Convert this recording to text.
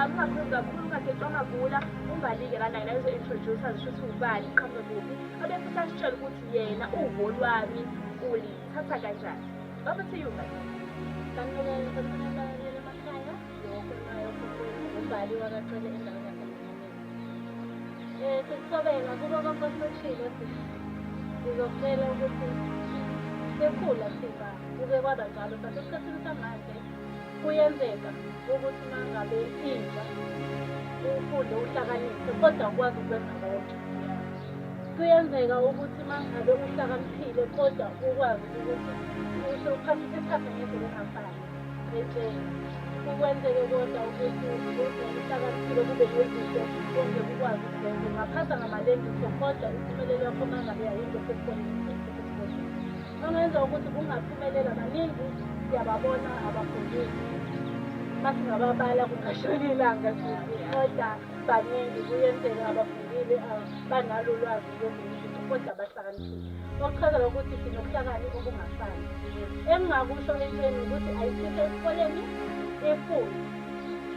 angingaphuzi kakhulu ungagecwa amagula ungalike lana yena ezo-introduce azisho ukuthi ubani iqhamuke kuphi abefisa asitshele ukuthi yena uvo lwami ulithatha kanjani over to you guys umbali wakacele endaweni yasenyameni um sekusobela kuko konke osishilo sizokutshela ukuthi sekhula siba kuke kwaba njalo but esikhathini samanje Kuyenzeka ukuthi uma ngabe intsha ufunde uhlakaniphe kodwa ukwazi ukwenza konke. Kuyenzeka ukuthi uma ngabe uhlakaniphile kodwa ukwazi ukuthi usho uphathe isikhathi ngendlela engafani entsheni. Kukwenzeke kodwa ukuthi uhlakaniphile kube nezinto konke kukwazi ukuzenza. Ungaphatha ngamalengiso kodwa impumelelo yakho uma ngabe yayinto sekukhona Ongenza ukuthi kungaphumelela baningi siyababona abafundisi masingababala kungashona ilanga kodwa baningi kuyenzeka abafundile banalo lwazi loluntu kodwa bahlakaniphile okuchazela ukuthi sinobuhlakani obungafani engingakusho entweni ukuthi ayisithe esikoleni ifundi